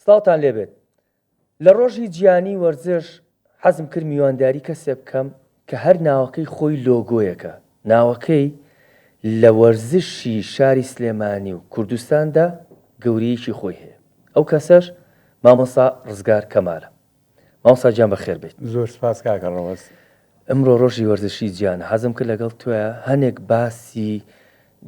سڵاوتان لێ بێت لە ڕۆژی جیانی وەرزش حەزم کرد میوانداری کەسێ بکەم کە هەر ناوەکەی خۆی لۆگۆیەکە ناوەکەی لە وەرزشی شاری سلێمانی و کوردستاندا گەورەیەکی خۆی هەیە ئەو کەسەش مامۆستا ڕزگار کەمالە. مامۆستا گیان بەخێر بێیت. زۆر سوپاس کاکە ڕەوەز. ئمڕۆ ڕۆژی وەرزشی جیانە حەزم کرد لەگەڵ تۆە هەنێک باسی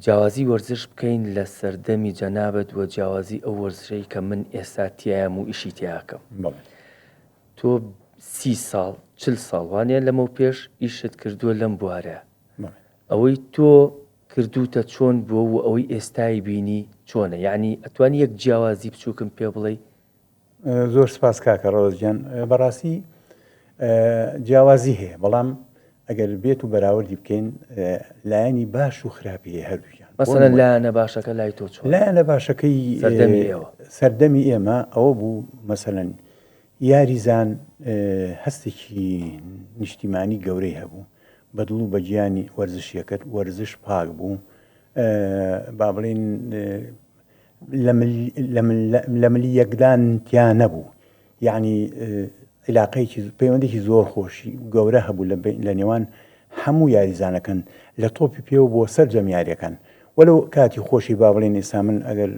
جیاوازی وەرزش بکەین لە سەردەمی جەنابت و جیاوازی ئەو وەرزشەی کە من ئێستا تیایم و ئیشی تیاکەم تۆ سی ساڵ چل ساڵ وانە لەمەو پێش ئیشت کردووە لەم بوارە ئەوەی تۆ کردوتە چۆن بووە و ئەوەی ئێستای بینی چۆنە یعنی ئەتوانی یەک جیاوازی بچووکم پێ بڵێ زۆر سپاس کاکە ڕەوەز گیان بەڕاستی جیاوازی هەیە بەڵام ئەگەر بێت و بەراوردی بکەین لایەنی باش و خراپی هەیە هەردووکیان مەسەن لایەنە باشەکە لای تۆ چۆن لایەنە باشەکەی سەردەمی ئێمە ئەوە بوو مەسەن یاریزان هەستێکی نیشتیمانی گەورەی هەبوو بەدڵ و بەگیانی وەرزشیەکەت وەرزش پاک بوو با بڵین لە ملی یەکدان تیا نەبوو یەعنی عیلاقەیەکی پەیوەندێکی زۆر خۆشی گەورە هەبوو لە نێوان هەموو یاریزانەکەن لە تۆپی پێ و بۆ سەرجەم یاریەکان وەلو کاتی خۆشی با بڵێن ئێستا من ئەگەر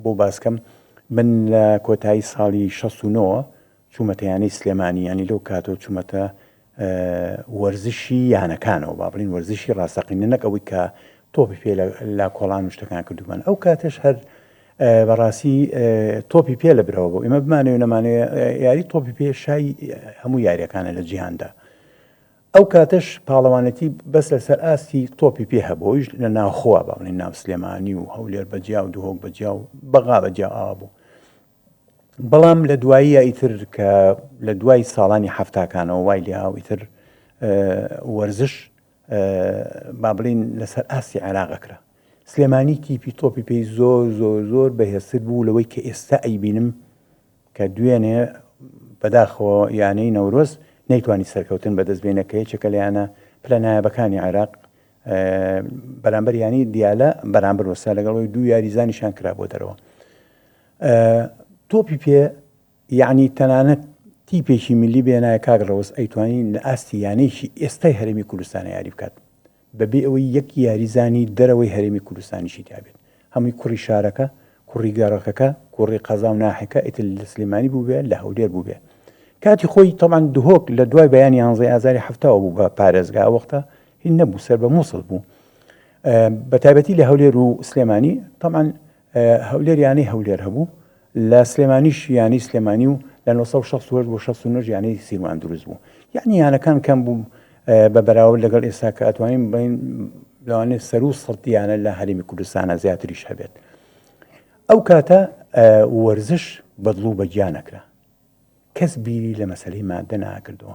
بۆ باسکەم من لە کۆتایی ساڵی 69 چوومەتە یانەی سلێمانی یانی لەو کاتەوە چوومەتە وەرزشی یانەکانەوە با بڵین وەرزشی ڕاستەقینە نەک ئەوەی کە تۆپی پێ لا کۆڵان و شتەکان کردومان ئەو کاتش هەر بەڕاستی تۆپی پێ لە برەوە بۆ ئمە بمانێ نەمانێ یاری تۆپی پێ شای هەموو یاریەکانە لە جیهاندا ئەو کاتش پاڵەوانەتی بەس لەسەر ئاستی تۆپی پێ هەبۆیش لە ناوخوا باڵی ناو سلێمانی و هەولێر بەجیا و دهۆک بەجیا و بەغا بەجیا ئاوا بوو بەڵام لە دواییە ئیتر کە لە دوای ساڵانی حەفتاکانەوە وای لێهاو ئیتر وەرزش با بڵین لەسەر ئاستی عێراقەکرا سلێمانی تیپی تۆپی پێی زۆر زۆر زۆر بەهێزتر بوو لەوەی کە ئێستا ئەیبینم کە دوێنێ بەداخەوە یانەی نەورۆز نەیتوانی سەرکەوتن بەدەست بێنە کە یەکێکە لەیانە پلە نایابەکانی عێراق بەرامبەر ینی دیالە بەرامبەر وەسا لەگەڵەوەی دوو یاریزانیشان کرا بۆ دەرەوە تۆپی پێ یەعنی تەنانەت تیپێکی ملی بێنایە کاک ڕەوز ئەیتوانی لە ئاستی یانەیەکی ئێستای هەرێمی کوردستانە یاری بکات بەبێ ئەوەی یەک یاریزانی دەرەوەی هەرێمی کوردستانیشی تابێت هەمووی کوڕی شارەکە کوڕی گەڕەکەکە کوڕی قەزا و ناحەکە ئیتر لە سلێمانی بووبێ لە هەولێر بووبێ کاتی خۆی تەمان دهۆک لە دوای بەیانی یانزەی ئازاری هەفتاوە بوو بە پارێزگا وەختە هی نەبوو سەر بە مووسڵ بوو بە تایبەتی لە هەولێر و سلێمانی تەمان هەولێر یانەی هەولێر هەبوو، لە سلێمانیش یانەی سلێمانی و لە نۆ سەد و شەست و هەشت بۆ شەست و نۆ ش یانەی سیروان دروست بوو. یانی یانەکان کەم بوو بە بەراورد لەگەڵ ئێستا کە ئەتوانین بڵێین لەوانێ سەروو سەد یانە لە هەرێمی کوردستانە زیاتریش هەبێت. ئەو کاتە وەرزش بەدڵ و بەگیانەکرا. کەس بیری لە مەسەلەی مادە ناکردەوە.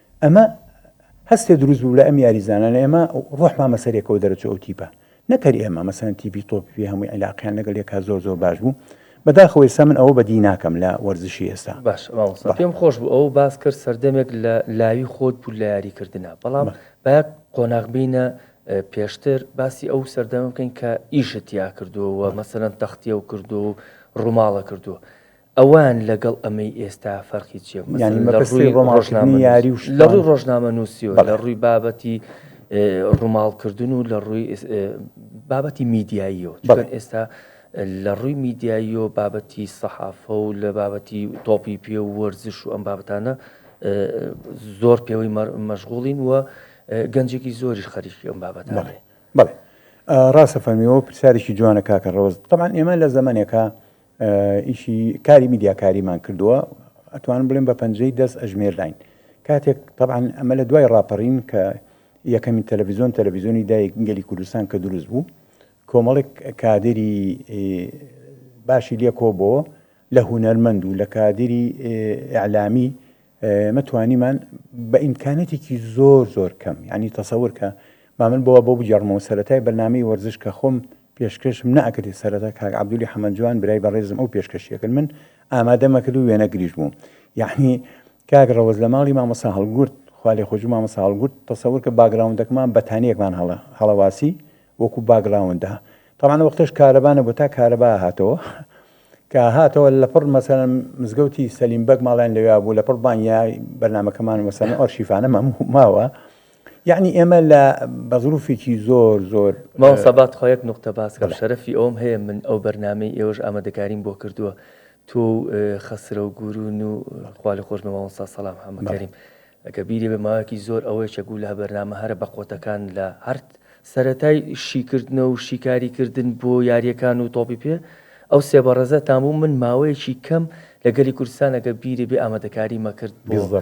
ئەمە هەستێ دروست بوو لە ئەم یاریزانانە ئێمە ڕۆحمان مەسەر یەکەوە دەرەچوو ئەو تیپە نەکەر ئێمە مەسەن تیپی تۆپی هەمووی عیلاقیان لەگەل یەکا زۆر زۆر باش بوو بەداخەوە ئێستا من ئەوە بەدی ناکەم لە وەرزشی ئێستا باش پێم خۆش بوو ئەو باس کرد سەردەمێک لە لاوی خۆت بوو لە یاریکردنا بەڵام با قۆناغ بینە پێشتر باسی ئەو سەردەم بکەین کە ئیشت یا کردووە مەسەرەن تەختیە و کردو و ڕووماڵە کردووە ئەوان لەگەڵ ئەمەی ئێستا فەرقی چیە؟ یانی مەبەستی ڕۆماڵکردنی یاری و شتان؟ لە ڕووی ڕۆژنامەنووسیەوە، لە ڕووی بابەتی ڕووماڵکردن و لە ڕووی بابەتی میدیاییەوە، چون ئێستا لە ڕووی میدیاییەوە بابەتی سەحافە و لە بابەتی تۆپی پێ و وەرزش و ئەم بابەتانە زۆر پێوەی مەشغوڵین و گەنجێکی زۆریش خەریکی ئەم بابەتانە بڵێ بڵێ ڕاستە فەرمیەوە پرسیارێکی جوانە کاکە ڕۆز تەمان ئێمە لە زەمنێکە ئیشی کاری میدیاکاریمان کردووە ئەتوانم بڵێم بە پەنجەی دەست ئەژمێرداین کاتێک طبعاان ئەمە لە دوای ڕاپەڕین کە یەکەمین تەلەڤزیۆن تەلەڤزیۆنی دایک گەلی کوردستان کە دروست بوو کۆمەڵێک کادری باشی لێ کۆبەوە لە هوەرمەند و لە کادری ئەعلامی مەتوانیمان بە ئیمکانەتێکی زۆر زۆر کەم ینی تەسەور کە مامن بۆە بۆ بگەڕمەوە سەتای بەنامی وەرزش کە خۆم پێشکەشم نەئەکردی سەرەتا کاک عەبدولی حەمە جوان برای بەڕێزم ئەو پێشکەشیە کرد من ئامادەم ئەکرد و وێنە گریش بووم یەعنی کاک ڕەوەز لە ماڵی مامۆسا هەڵگورد خوا لێ خۆشبی مامۆسا هەڵگورد تەسەور کە باگراوندەکمان بەتانیەکمان هەڵە هەڵەواسی وەکو باگراوندا طبعا وەختەش کارەبا نەبوو تا کارەبا هاتەوە کە هاتەوە لەپڕ مەسەن مزگەوتی سەلیم بەگ ماڵیان لەوێ بوو لەپڕ بانیا بەرنمەکەمان مەسەن ئەرشیفانە ماوە یەعنی ئێمە لە بە زروفێکی زۆر زۆر. مامۆستا با تخوا یەک نوقتە باس کەم شەرەفی ئەوەم هەیە من ئەو بەرنامەی ئێوەش ئامادەکاریم بۆ کردووە تۆ و خەسرەو گورون و خوا لێ خۆش بێ مامۆستا سەلام حەمە کەریم ئەگە بیری بێ ماوەیەکی زۆر ئەوەی چە گوو لە بەرنامە هەرە بە قۆتەکان لە هەرت سەرەتای شیکردنە و شیکاری کردن بۆ یارییەکان و تۆپی پێ ئەو سێ بەڕێزەتان بوو من ماوەیەکی کەم لە گەلی کوردستان ئەگە بیری بێ ئامادەکاریمە کرد بۆ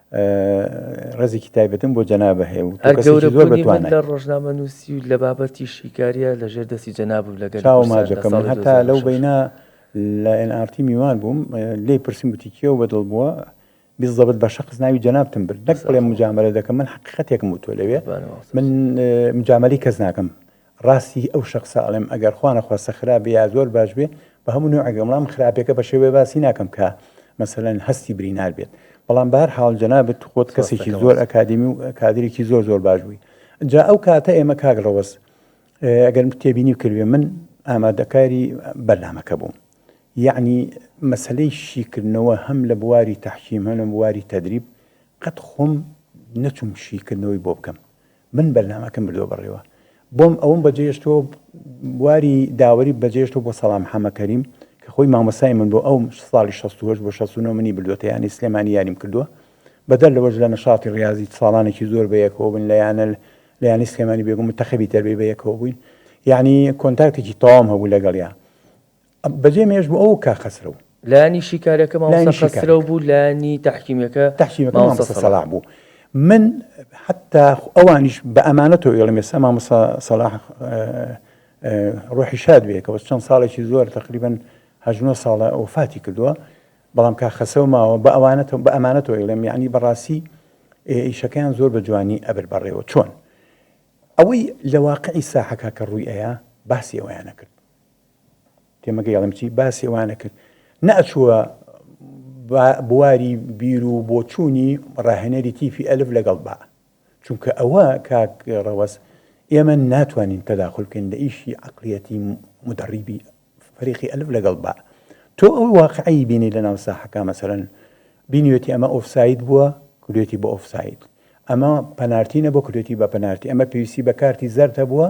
ڕێزێکی تایبەتم بۆ جەنابە هەیە و هەر کەسێکی زۆر گەورەبوونی من بەتوانای لە ڕۆژنامە نووسی و لە بابەتی شیکاریە لە ژێر دەستی جەنابم لە گەلی چاوە کوردستان لە ماجەکەم من ساڵی هەتا لەو 2006 بەینە لە ئێن ئاڕ تی میوان بووم لێی پرسیم گوتی کێو بەدڵ بووە بیزەبت بە شەخس ناوی جەنابتم برد نەک بڵێم مجامەلە دەکەم من حەقیقەتێکم وتووە لەوێ بەبانەوە من اه، مجامەلەی کەس ناکەم ڕاستی ئەو شەخسە ئەڵێم ئەگەر خوا نەخواستە خراپ بێ یا زۆر باش بێ بە هەموو نەوعێک بێ بەڵام خراپێکە بە شێوەیە باسی ناکەم کە مەسەلەن هەستی برینار بێت بەڵام بە هەر حاڵ جەنابت خۆت کەسێکی زۆر ئەکادیمی و کادرێکی زۆر زۆر باش بووی جا ئەو کاتە ئێمە کاک ڕەوەز ئەگەر تێبینی بکردێ من ئامادەکاری بەرنامەکە بووم یعنی مەسلەی شیکردنەوە هەم لە بواری تحکیم هەم لە بواری تدریب قەت خۆم نەچوم شیکردنەوەی بۆ بکەم من بەرنامەکەم بردوە بەڕێوە بۆم ئەوم بەجێشتۆ بواری داوەری بەجێشتۆ بۆ سەڵام حەمە کەریم کە خۆی مامۆسای من بۆ ئەو ساڵی 16 بۆ 16 منی بردوەتە یانی سلێمانی یاریم کردووە بەدەر لەوەش لە نەشاتی ڕاضی ساڵانێکی زۆر بەیەکەوە بن لە یانە لە ینی سلێمانی بێگو متەخەبی تەربی بەیەکەوە بووین یعنی کۆنتاکتێکی تەوام هەبوو لەگەڵیان بەجێ مێژ بوو ئەو کاک خەسرەو. لانی شیکاریەکە مامۆستا خەسرەو بوو لانی تەحکیمیەکە مامۆستا سەلاح بوو من حتا ئەوانیش بە ئەمانەتەوە ئێڵم ئێستا مامۆستا سەلاح ڕۆحی شاد بێ کەەوە چەند ساڵێکی زۆر تقریبن هەژنۆ ساڵە ئەوفاتی کردووە بەڵام کا خەسەو ماوە بە ئەوانەتەوە بە ئەمانەتەوە ئێڵم یعنی بەڕاستی ئیشەکەیان زۆر بە جوانی ئەبر بەڕێوە چۆن ئەوەی لە واقعی ساحەکە کە ڕووی ئەیە باسی ئەویانە کرد تێمەگەی ئەڵێم چی باسی ئەوانە کرد نەئەچووە بواری بیر و بۆچوونی ڕاهێنەری تیفی ئەلف لەگەڵ با چونکە ئەوە کاک ڕەوەز ئێمە ناتوانین تەداخلکەین لە ئیشی عقلیەتی مدەڕیبی فەریقی ئەلف لەگەڵ با تۆ ئەو واقعی بینی لە ناو ساحەکە مەسەرەن بینیوێتی ئەمە ئۆفساید بووە کورێتی بە ئۆفساید ئەمە پەنارتینە بۆ کورێتی بە پەنارتی ئەمە پێویستی بە کارتی زەرتە بووە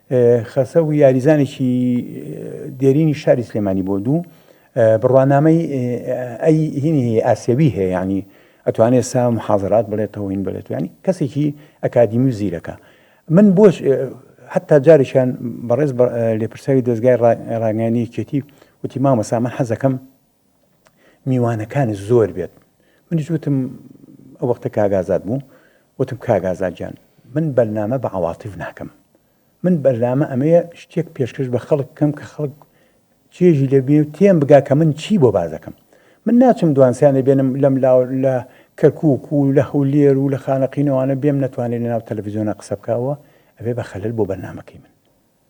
خەسەو یاریزانێکی دێرینی شاری سلێمانی بووە دوو بڕوانامەی ئەی هینی هەیە ئاسیەوی هەیە ینی ئەتوانێت سا محازرات بڵێت تەوین بڵێت ینی کەسێکی ئەکادیمی و زیرەکە من بۆش حتا جارێکیان بەڕێز لێپرساوی دەستگای ڕاگەنی کێتی وتی مامەسا من حەزەکەم میوانەکانت زۆر بێت منیش وتم ئەو وەختە کاک ئازاد بوو وتم کاک ئازاد گیان من بەرنامە بە عەواطیف ناکەم من بەرنامە ئەمەیە شتێک پێشکەش بە خەڵک بکەم کە خەڵک چێژی لێ بێ و تێم بگا کە من چی بۆ باز دەکەم من ناچم دوانسیان دەبێنم لەم لا لە کەرکک و لە هەولێر و لە خانەقینەوانە بێم نەتوانێت لە ناو تەلەڤزیۆنە قسە بکەوە ئەبێ بە خەلل بۆ بەرنمەکەی من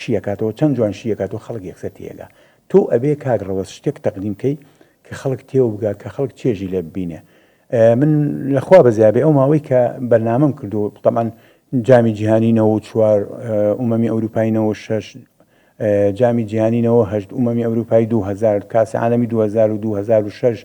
شیەکاتەوە چەن جوان شیەکاتەوە خەڵک یەکسەر تێیەگا تۆ ئەبێ کاک ڕەوەز شتێک تەقدیم کەی کە خەڵک تێو بگا کە خەڵک چێژی لێ ببینێ من لە خوا بەزیابێ ئەو ماوەی کە بەرنامەم کردو تەمان جامی جیهانی نەوە و چوار ئومەمی ئەوروپای نەوە شەش جامی جیهانی نەوە هەشت ئومەمی ئەوروپای 2000 کاسی عالمی 2000 و 2006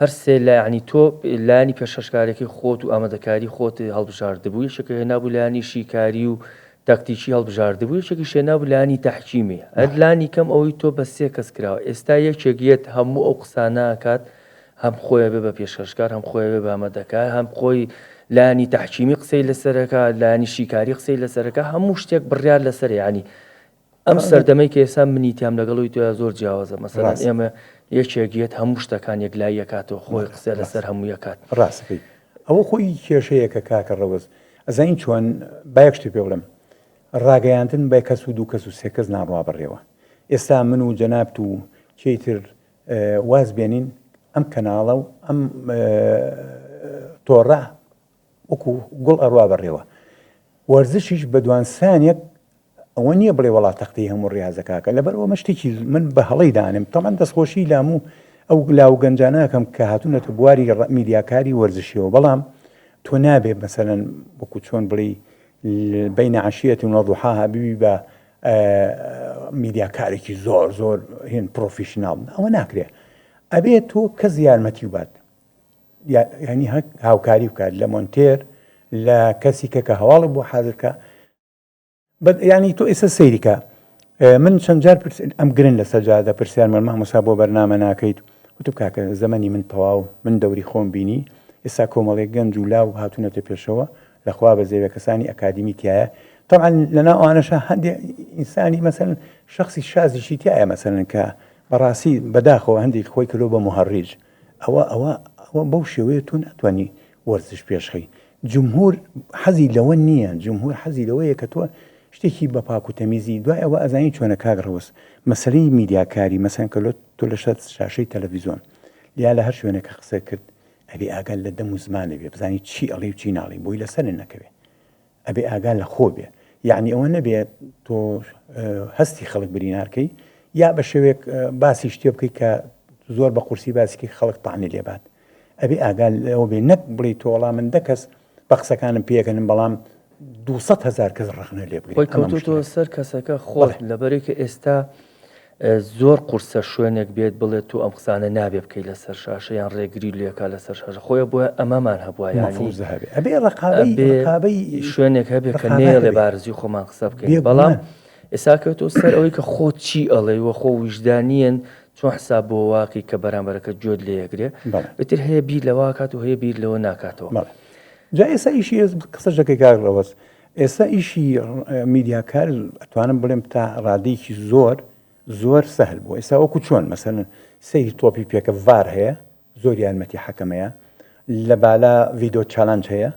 هەر سێ لایەنی تۆ، لایەنی پێشکەشکارەکەی خۆت و ئامادەکاری خۆت هەڵبژاردبوو، یەکێکی هێنابوو لایەنی شیکاری و تاکتیکی هەڵبژاردبوو، یەکێکیش هێنابوو لایەنی تەحکیمی. هەر لانی کەم ئەوەی تۆ بە سێ کەس کراوە. ئێستا یەکێک یەت هەموو ئەو قسانە ئەکات، هەم خۆی ئەبێ بە پێشکەشکار، هەم خۆی ئەبێ بە ئامادەکار، هەم خۆی لایەنی تەحکیمی قسەی لەسەر ئەکا، لایەنی شیکاری قسەی لەسەر ئەکا، هەموو شتێک بڕیار لەسەرە. یەعنی ئەم سەردەمەی کە ئێستا منی تیام لەگەڵ ئەوی تۆیا زۆر جیاوازە مەسەلەن ئێمە یەکێک یەت هەموو شتەکان یەکلایی ئەکاتەوە خۆی قسە لەسەر هەموو یەکات ڕاستەکەی ئەوە خۆی کێشەیەکە کاکە ڕەوەز ئەزانین چۆن بایەک شتێ پێ بڵم ڕاگەیاندن بە کەس و دوو کەس و سێ کەس ناڕوا بڕێەوە ئێستا من و جەنابت و چیتر واز بێنین ئەم کەناڵە و ئەم تۆڕە وەکو گوڵ ئەڕوا بڕێەوە وەرزشیش بە دوانسانێک ئەوە نیە بڵێ وەڵا تەختەی هەموو ڕیازە کاکە لەبەر ئەوە شتێکی من بە هەڵەی دانێم تەمان دەستخۆشی لە هەموو ئەو لاو و گەنجانە ئەکەم کە هاتوونەتە بواری میدیاکاری وەرزشیەوە بەڵام تۆ نابێ مەسەلەن وەکو چۆن بڵێی بینە عشیەتی وەضحاها ببی بە میدیاکارێکی زۆر زۆر هێن پرۆفیشنناڵ ئەوە ناکرێ ئەبێت تۆ کەس یارمەتی و بات ینی هەک هاوکاری بکات لە مۆنتێر لە کەسی کە کە هەواڵی بۆ حازرکە یانی تۆ ئێستا سەیریکە من چەند جار پرس ئەم گرن لە سەجادە پرسیار من مامۆسا بۆ بەرنامە ناکەیت وتم کاکە زەمەنی من تەواو من دەوری خۆم بینی ئێستا کۆمەڵێک گەنج و لاو هاتوونەتە پێشەوە لەخوا بە زێوە کەسانی ئەکادمی تایە طبعا لەنا ئەوانەشە هەندێ ئینسانی مەسەن شخصی شازیشی تایە مەسەن کە بەڕاستی بەداخەوە هەندێک خۆی کەلو بە مهڕیج ئەوە ئەوە ئەوە بەو شێوەیە تۆ ناتوانی وەرزش پێشخەی جمهور حەزی لەوە نییە جمهور حەزی لەوەیە کە تۆ شتێکی بە پاک و تەمیزی دوای ئەوە ئەزانی چۆنە کاک ڕەوس مەسەلەی میدیاکاری مەسەن کە لۆ تۆ لە شەر شاشەی تەلەڤیزۆن یا لە هەر شوێنەکە قسە کرد ئەبێ ئاگات لە دەم و زمانە بێ بزانی چی ئەڵێ و چی ناڵێ بۆی لەسەرێ نەکەوێ ئەبێ ئاگا لە خۆ بێ یانی ئەوە نەبێ تۆ هەستی خەڵک برینارکەی یا بە شێوێک باسی شتێ بکەیت کە زۆر بە قورسی باسیکەی خەڵک تاانی لێبات ئەبێ ئاگا لەەوە بێ نەک بڵی تۆڵا من دەکەس بە قسەکانم پێکەنم بەڵام 200 هزار کەس ڕخنە لێ بگەی کەوتۆ سەر کەسەکە خۆڵ لەبەرێکە ئێستا زۆر قورسە شوێنێک بێت بڵێت تۆ ئەم قسانە نابێ بکەی لەسەر شاشە یان ڕێگری لێکا لەسەر شاشە خۆیە بۆیە ئەمەمان هەبووە یانیبێڕقابەی شوێنێک هەبێ کە نێڵێ بارزی خۆمان قسە بکەین بەڵام ئێسا کەوتۆ سەر ئەوەی کە خۆ چی ئەڵێ وە خۆ ویژدانیان چۆن حساب بۆ واقعی کە بەرامبەرەکە جۆت لێ یەگرێ بتر هەیە بیر لەواکات و هەیە بیر لەوە ناکاتەوە جا ئێسا ئیشی قسە ژەکەی گاگڕەوەست ئێستا ئیشی میدیاکار ئەتوانم بڵێم تا ڕادەیەکی زۆر زۆر سەهل بوو ئێستا وەکو چۆن مەسەن سەیری تۆپی پێکە ڤار هەیە زۆر یارمەتی حەکەمەیە لە بالا ڤیدۆ چالنج هەیە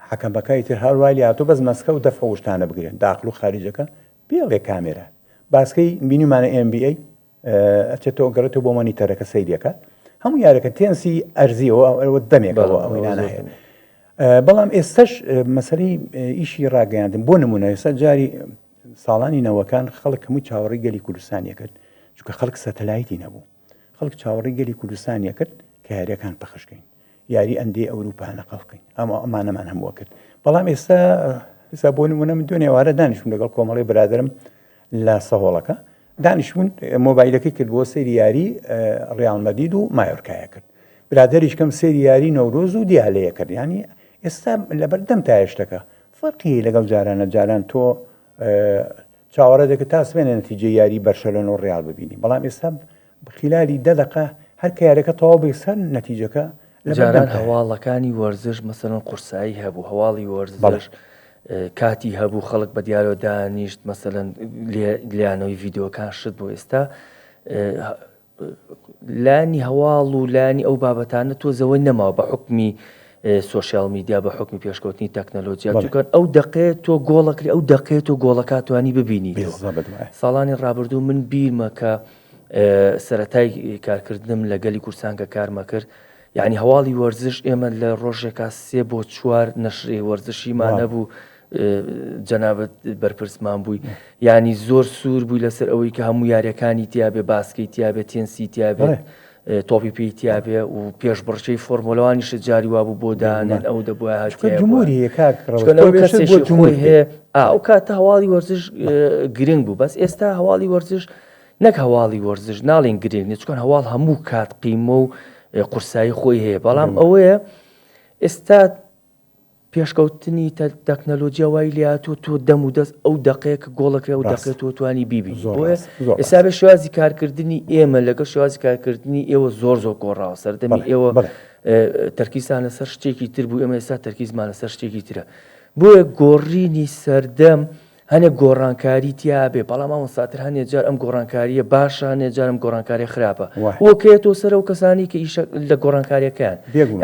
حەکەمەکەی تر هەر وای لاتۆ بەس مەسکە و دەفع وشتانە بگرێن داخل و خارجەکە پێڵێ کامێرە باسکەی بینیمانە MBA ئەچێتەوە ئەگەڕێتەوە بۆ مۆنیتەرەکە سەیری ئەکات هەموو یارەکە تێنسی ئەرزیەوە ئەوە دەمێکەوە ئەوەی نانە هەیە بەڵام ئێستش مەسەری ئیشی ڕاگەیاندن بۆ نمونە ئێستا جاری ساڵانی نەوەکان خەڵک هەموو چاوەڕی گەلی کوردستانیە کرد چکە خەڵک سەتەلایتی نەبوو خەڵک چاوەڕی گەلی کوردستانیە کرد کە یاریەکان پەخشکەین یاری ئەندی ئەوروپا نەقەڵقین ئەمە ئەمانەمان هەمووە کرد بەڵام ئێستا ئستا بۆ نمونە من دوێنێ وارە دانیشتون لەگەڵ کۆمەڵی برادرم لە سەهۆڵەکە دانیشتون مۆبایلەکەی کرد بۆ سری یاری ڕیاڵمەدید و مایۆرکایە کرد برادریش کەم سری یاری نەورۆز و دیالەیە کرد ینی ئێستا لەبەردەم تا هێشتەکە فەرقی لەگەڵ جارانە جاران تۆ چاوەڕێ دەکە تا سمێنە نەتیجە یاری بەرشەلۆن و ڕیال ببینی بەڵام ئێستا خلالی دە دەقە هەر کە یاریەکە تەواو بێ سەر نەتیجەکە لە بەردەمتایە. جاران هەواڵەکانی وەرزش مەسەلەن قورسایی هەبوو هەواڵی وەرزش کاتی هەبوو خەڵک بە دیارەوە دانیشت مەسەلەن لیانەوەی ڤیدۆکان شت بۆ ئێستا لانی هەواڵ و لانی ئەو بابەتانە تۆ زەوەی نەماوە بە حکمی سوۆسیال میدیا بە حکمی پێشکەوتنی تەکنەلۆجییا دوکەن ئەو دقێ تۆ گۆڵەکری ئەو دقێت و گۆڵەکاتوانی ببینی ساڵانی ڕابردوو من بیرمە کە سەرەتای کارکردنم لە گەلی کورسان کە کارمەکرد یعنی هەواڵی وەرزش ئێمە لە ڕۆژێکا سێ بۆ چوار نەشرێ وەرزشیمان نەبوو جەنابەت بەرپرسمان بووی ینی زۆر سوور بووی لەسەر ئەوەی کە هەموو یاریەکانی تیاابێ باسکەی تیاابێت تێنسی تیاابێت تۆپی پێی تیابێ و پێشبڕکێی فۆرمۆلە وانیشە جاری وابوو بۆ دانێن ئەو دەبووە ئەو کاتە هەواڵی وەرزش گرنگ بوو بەس ئێستا هەواڵی وەرزش نەک هەواڵی وەرزش ناڵین گرنگ نچکن هەواڵ هەموو کات قیمە و قورسایی خۆی هەیە بەڵام ئەوەیە ئێستا پێشکەوتنی تەکنەلۆجیا وای لێهاتووە تۆ دەم و دەست ئەو دەقەیە کە گۆڵەکرێ ئەو دەقەی تۆ توانی بیبینی بۆیە ئێستا بێ شێوازی کارکردنی ئێمە لەگەڵ شێوازی کارکردنی ئێوە زۆر زۆر گۆڕاوە سەردەمی ئێوە تەرکیزان لەسەر شتێکی تر بوو ئێمە ئێستا تەرکیزمان لەسەر شتێکی ترە بۆیە گۆڕینی سەردەم هەنێ گۆڕانکاری تیا ئەبێ بەڵام ئەوەن ساتر هەنێ جار ئەم گۆڕانکاریە باشە هەنێ جارم گۆڕانکاریە خراپە وە کەێت تۆ سەرەوە کەسانی کە ئیشە لە گۆڕانکاریەکەیان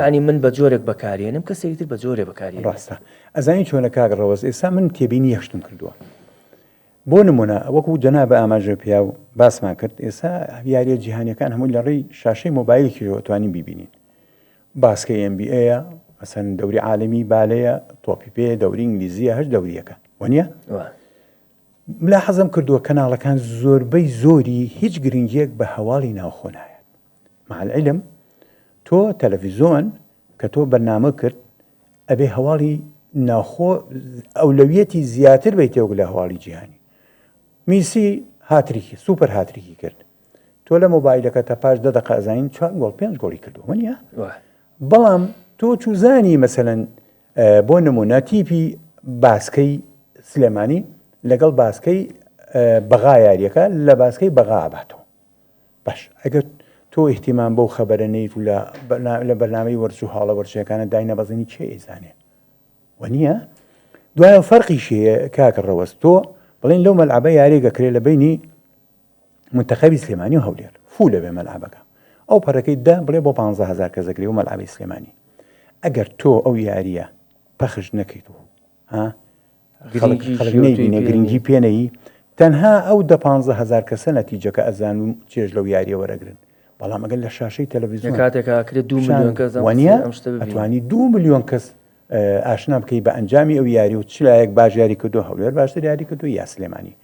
ینی من بە جۆرێک بەکارێنم کە سەیتر بە جۆرێ بەکاری ڕاستە ئەزانی چۆنە کاک ڕەوەز ئێستا من تێبینی یەشتم کردووە بۆ نمونە وەکو جەنا بە ئاماژە پیا و باسمان کرد ئێستا یاریە جیهانەکان هەمووی لە ڕێی شاشەی مۆبایلێکیەوە توانین ببینین باسکەی ئێن بی ئەیە مەسەن دەوری عالمی بالەیە تۆپی پێ دەوری ئینگلیزیە هەر دەوریەکە وەنیە ملا حەزم کردووە کەناڵەکان زۆربەی زۆری هیچ گرنگیەک بە هەواڵی ناوخۆ نایە معلعلم تۆ تەلەڤیزۆن کە تۆ بەرنامە کرد ئەبێ هەواڵی ناوخۆ ئەولەویەتی زیاتر بی تێوەک لە هەواڵی جیهانی میسی هاتریکی سوپەر هاتریکی کرد تۆ لە مۆبایلەکە تا پاش دە دقە ئەزانین چوار گۆڵ پێنج گۆڵی کردو منە بەڵام تۆ چوزانی مەسەن بۆ نمونە تیپی باسکەی سلێمانی لەگەڵ باسکەی بەغا یاریەکە لە باسکەی بەغا ئاباتەوە باش ئەگەر تۆ احتیمان بەو خەبەرە نیت و لە بەرنامەی وەرچ و هاڵە وەرچەکانە داینە بەزنی چێ ئیزانێ و نییە دوایە فەرقی شەیە کاکە ڕەوەست تۆ بڵین لەو مەلعبە یاریگەکرێ لە بینی منتەخەبی سلێمانی و هەولێر فوولە بێ مەلعەبەکە ئەو پەرەکەی دە بڵێ بۆ پانزە هەزار کەس دەکرێ و مەلعەبی سلێمانی ئەگەر تۆ ئەو یاریە پەخش نەکەیت و ها گرنگی پێنەی تەنها ئەو دە پ هزار کەسە نەتیجەکە ئەزان و چێژ لەو یاریە وەرەگرن بەڵام ئەگەر لە شاشەی تەلەڤزیۆن کاتێکاکرێت دو وانە ئەتوانی دو میلیۆن کەس ئاشنا بکەی بە ئەنجامی ئەو یاری و چ لایەک باش یاری کردو هەولێر باشتر یاری کردو یا سلێمانی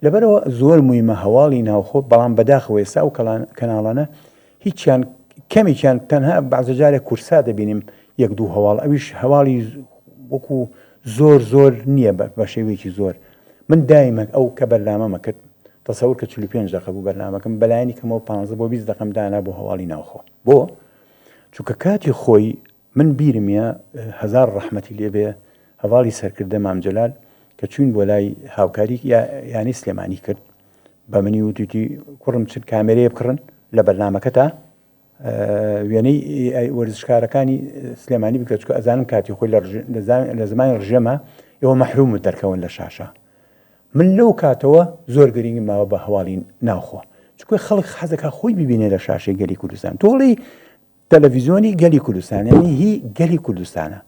لەبەرەوە زۆر مویمە هەواڵی ناوخۆ بەڵام بەداخەوە ئێستا ئەو کەناڵانە هیچیان کەمێکیان تەنها بەعزە جارێک کورسا دەبینیم یەک دوو هەواڵ ئەویش هەواڵی وەکو زۆر زۆر نییە بە شێوەیەکی زۆر من دایمەک ئەو کە بەرنامەمە کرد تەسەور کە 45 دقە بوو بەرنمەکەم بەلایەنی کەمەوە 15 بۆ 20 دقم دانا بۆ هەواڵی ناوخۆ بۆ چونکە کاتی خۆی من بیرم یە هەزار ڕەحمەتی لێ بێ هەڤاڵی سەرکردە مام جەلال کە چوین بۆ لای هاوکاری یا یانی سلێمانی کرد بە منی وتیتی کوڕم چ کامێرەیە بکڕن لە بەرنمەکە تا وێنەی وەرزشکارەکانی سلێمانی بکە چکە ئەزانم کاتی خۆی لە زمانی ڕژێمە ئێوە مەحروم دەرکەون لە شاشە من لەو کاتەوە زۆر گرنگی ماوە بە هەواڵین ناوخۆ چکۆی خەڵک حەزەکە خۆی ببینێ لە شاشەی گەلی کوردستان تۆڵی تەلەڤیزۆنی گەلی کوردستان یانی هی گەلی کوردستانە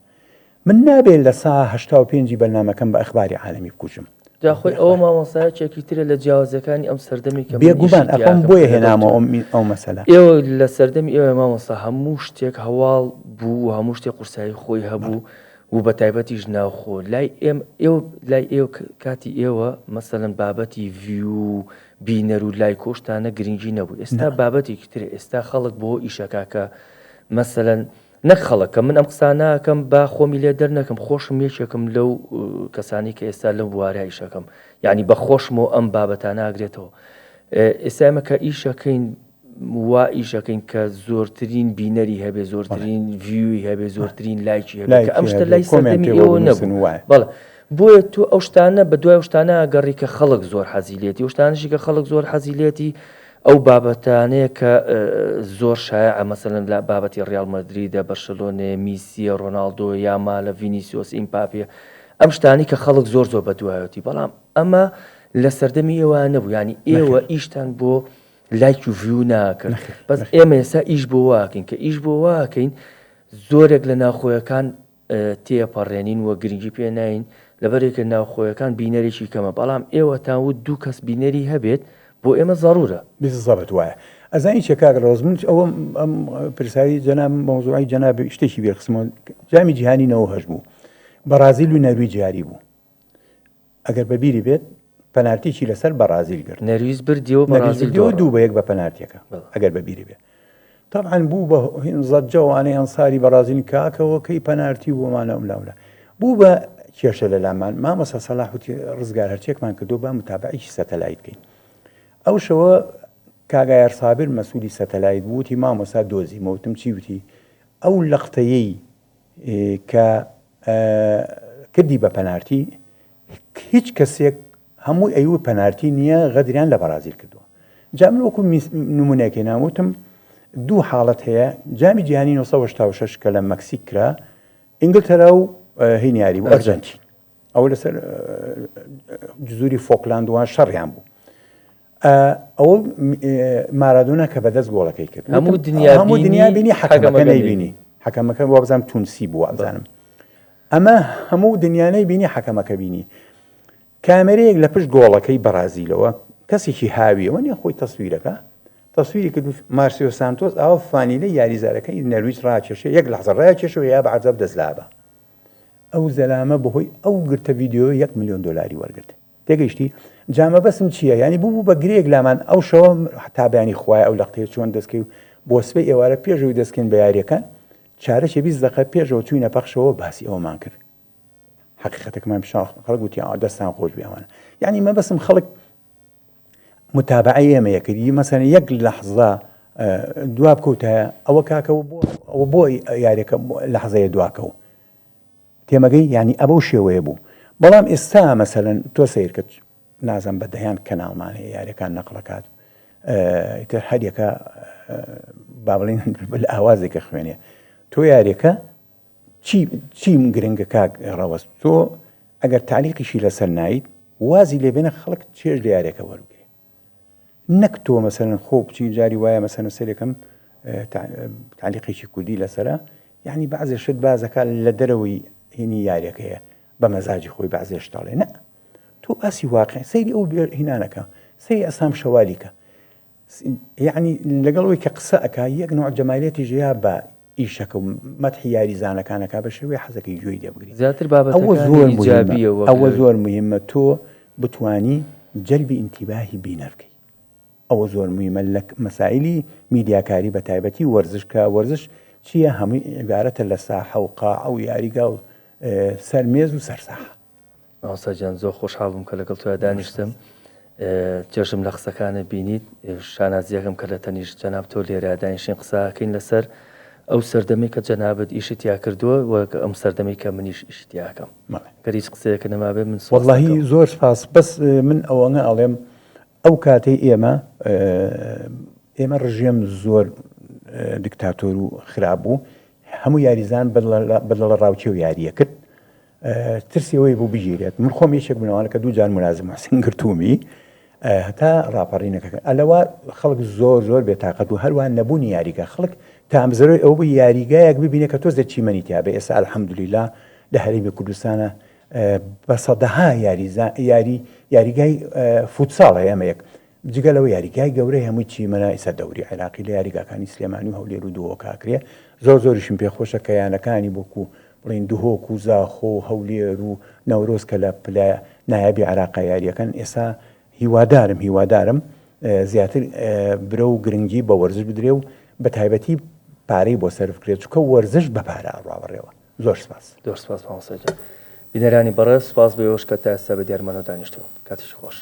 من نابێت لە سا هەشتا و پێنجی بەرنامەکەم بە ئەخباری عالەمی بکوژم جاخۆی ئەوە مامۆسایە چێکی ترە لە جیاوازەکانی ئەم سەردەمی کە بێگومان ئەم بۆیە هێنامە ئەو مەسەلا ئێوە لە سەردەمی ئێوە مامۆستا هەموو شتێک هەواڵ بوو هەموو شتێک قورسایی خۆی هەبوو و بە تایبەتیش ناوخۆ لای ئێم ئێوە لای ئێوە کاتی ئێوە مەسەەن بابەتی ڤیو بینەر و لایک و شتانە گرینگی نەبوو ئێستا بابەتێکی ترە ئێستا خەڵک بۆ ئیشەکە کە مەسەلەن نەک خەڵک کە من ئەم قسانە ئەکەم با خۆمی لێ دەرنەکەم خۆشم یەکێکم لەو کەسانی کە ئێستا لەم بوارە ئیشەکەم یعنی بە خۆشمەوە ئەم بابەتانە ئاگرێتەوە ئێستا ئێمە کە ئیشەکەین وا ئیشەکەین کە زۆرترین بینەری هەبێ زۆرترین ڤیوی هەبێ زۆرترین لایکی هەبێ کە ئەم شتە لای سەردەمی ئێوە نەبوو بەڵێ بۆیە تۆ ئەو شتانە بە دوای ئەو شتانە گەڕی کە خەڵک زۆر حەزی لێتی ئەو شتانەشی کە خەڵک زۆر حەزی لێتی ئەو بابەتانەیە کە زۆر شایعە مەسەلەن لە بابەتی ڕیاڵ مەدریدە بەرشلۆنێ میسیە ڕۆناڵدۆ یاما لە ڤینیسیۆس ئیمپاپێ ئەم شتانی کە خەڵک زۆر زۆر بە دوایەتی بەڵام ئەمە لە سەردەمی ئێوە نەبوو ینی ئێوە ئیشتان بۆ لایک و ڤیو ناکەن بەس ئێمە ئێستا ئیش بۆ واکەین کە ئیش بۆ واکەین زۆرێک لە ناوخۆیەکان تێپەڕێنین وە گرنگی پێ ناین لەبەرێکە ناوخۆیەکان بینەرێکی کەمە بەڵام ئێوە تاوت دوو کەس بینەری هەبێت بۆ ئێمە زەڕورە زەبت وایە ئەزانی چێ کاک ڕۆز من ئەوە ئەم پرسایی جەنا مەوزوعی جەناب شتێکی بێخسمۆن جامی جیهانی نەوە هەش بوو بەڕازیل و نەروی جاری بوو ئەگەر بە بیری بێت پەنارتیی لەسەر بەڕازیل گرت نەرویج بردی و بەڕازیل دۆڕا. دوو بە یەک بە پەنارتیەکە ئەگەر بە بیری بێت تەبعەن بوو بە زەجە و ئانەی ئەنساری بەڕازیل کاکەوە کەی پەنارتی و بۆمانە و لاولا بوو بە کێشە لە لامان مامۆسا سەلاحوتی ڕزگار هەرچێکمان کردو با متابعیکی سەتەلایت بکەین ئەو شەوە کاگایەر سابر مەسوولی سەتەلایت بووتی مامۆسا دۆزی مەوتم چی وتی ئەو لەقتەیەی کە کردی بە پەنارتی هیچ کەسێک هەمووی ئەیوە پەنارتی نییە غەدریان لە بەرازیل کردووە جا من وەکو نمونونێکی ناوتم دوو حاڵەت هەیە جامی جیهانی 1970 کە لە مەکسیک کرا ئینگلتەرا و هینیاری و ئەرجەنتین ئەو لەسەر جزوری فۆکلاندوان شەڕیان بوو ئەوە مارادۆنا کە بەدەست گۆڵەکەی کرد هەموو دنیا هەموو دنیا بینی حەکەمەکە نەیبینی حەکەمەکە وابزانم تونسی بووە ئەزانم ئەمە هەموو دنیانەی بینی حەکەمەکە بینی کامێرەیەک لە پشت گۆڵەکەی بەرازیلەوە کەسێکی هاویەوە نیە خۆی تەسویرەکە تەسویری کرد مارسیۆ سانتۆس ئاوە فانیلە یاریزارەکەی نەرویج ڕاکێشە یەک لەحزە ڕاکێشەوە یا بە عزاب دەستلابە ئەو زەلامە بەهۆی ئەو گرتە یددیو یەک میلیۆن دلاری وەرگرت تێگەیشتی جا مەبەسم چییە یانی بوو بوو بە گرێک لامان ئەو شەوە حتا بەیانی خوای ئەو لەقتەیە چۆن دەستکەی و بۆ سبەی ئێوارە پێشەوەی دەستکەین بە یاریەکان چارەکی بیست دقە پێشەوە چوینە پەخشەوە باسی ئەومان کرد حقیقەتەکەمان پیشان خەڵک گوتی ئا دەستان خۆش بیاوانە یعنی مەبەسم خەڵک متابعی ئێمە یەکردی مەسەن یەک لەحزە دواب کەوتە ئەوە کاکەەوە بۆ ئەوە بۆی یاریەکە لەحزەیە دواکەوە تێمەگەی یانی ئەبەو شێوەیە بوو بەڵام ئێستا مەسەلەن تۆ سەیرکە نازم بە دەیان کەناڵمان هەیە یاریەکان نەقلەکات ئیتر هەریەکە بابلین بل ئاوازێکە خوێنێ تۆ یاریەکە چیم گرنگە کاک ڕەوەست تۆ ئەگەر تعلیقیشی لەسەر نایت وازی لێبێنە خەڵک چێژ لە یارێکە وەرگێ نەک تۆ مەسەلەن خۆ بچی جاری وایە مەسەلەن سەرێکم تعلیقێکی کوردی لەسرە یعنی بەعزێ شت بازەکە لە دەرەوەی هینی یاریەکەیە بە مەزاجی خۆی بەعزێش تاڵێ نە تۆ ئاسی واقع سەیری ئەو هینانەکە سەی ئەسام شەوالیکە یعنی لەگەڵ ئەوی کە قسە ئەک یەک نوع جەمالیەتی ژیا بە ئیشەکە و مەتحی یاریزانەکان ئەکا بە شێوەی حەزەکەی گوێی لێ بگرین زیاتر بابەتەکانی ئیجابیە وەک لەوێ ئەوە زۆر موهیمە ئەوە زۆر موهیمە تۆ بتوانی جەلبی ئینتیباهی بینەر بکەی ئەوە زۆر موهیمە لە مەسایلی میدیاکاری بە تایبەتی وەرزش کە وەرزش چیە هەمووی عیبارەتە لە ساحە و قاعە و یاریگا و سەر مێز و سەر ساحە مامۆستا گیان زۆر خۆشحاڵ بووم کە لەگەڵ تۆیا دانیشتم چێژم لە قسەکانت بینیت شانازیەکەم کە لە تەنیشت جەناب تۆ لێرە دانیشین قساکەین لەسەر ئەو سەردەمی کە جەنابەت ئیشت یا کردووە وەک ئەم سەردەمی کە منیش ئیشتیاکەم گەریج قسەیەکە نەمابێ من واللهی زۆر سپاس بەس من ئەوەنە ئەڵێم ئەو کاتەی ئێمە ئێمە ڕژێم زۆر دکتاتۆر و خراپ بوو هەموو یاریزان بەدڵە ڕاوچێ و یاریە کرد ترسیەوەی بوو بگیرێت من خۆم یەکێک بنەوانە کە دوو جار منازم حسین گرتومی هەتا ڕاپەڕینەکەکە ئەلەوە خەڵک زۆر زۆر بێتاقەت و هەروان نەبوونی یاریگە خەڵک تامزرۆی ئەو بوو یاریگایەک ببینێت کە تۆ زەچیمەنی تیاابێ ئێستا الحەمدلیلا لە هەرمی کوردستانە بە سەدەها یاریزان، یاری، یاریگای فوتساڵ هەیە ئەمە یەک، جگە لەوە یاریگای گەورەی هەمووی چیمەنای سەر دەوری عێراقی لە یاریگاکانی سلێمانی و هەولێر و دهۆک ئاکرێ، زۆر زۆریشم پێ خۆشە کە یانەکانی وەکو بڵێین دهۆک و زاخۆ و هەولێر و نەورۆز کە لە پلە نایابی عێراقا یاریەکەن ئێستا هیوادارم هیوادارم زیاتر برەو و گرنگی بە وەرزش بدرێ و بە تایبەتی پارەی بۆ سەرف کرێ چونکە وەرزش بە پارە ئەڕوا بەڕێوە. زۆر سپاس. زۆر سپاس مامۆستا گیان. بینەرانی بەڕێز سپاس بۆ ئێوەش کە تا ئێستا بە دیارمانەوە دانیشتون. کاتیشی خۆش.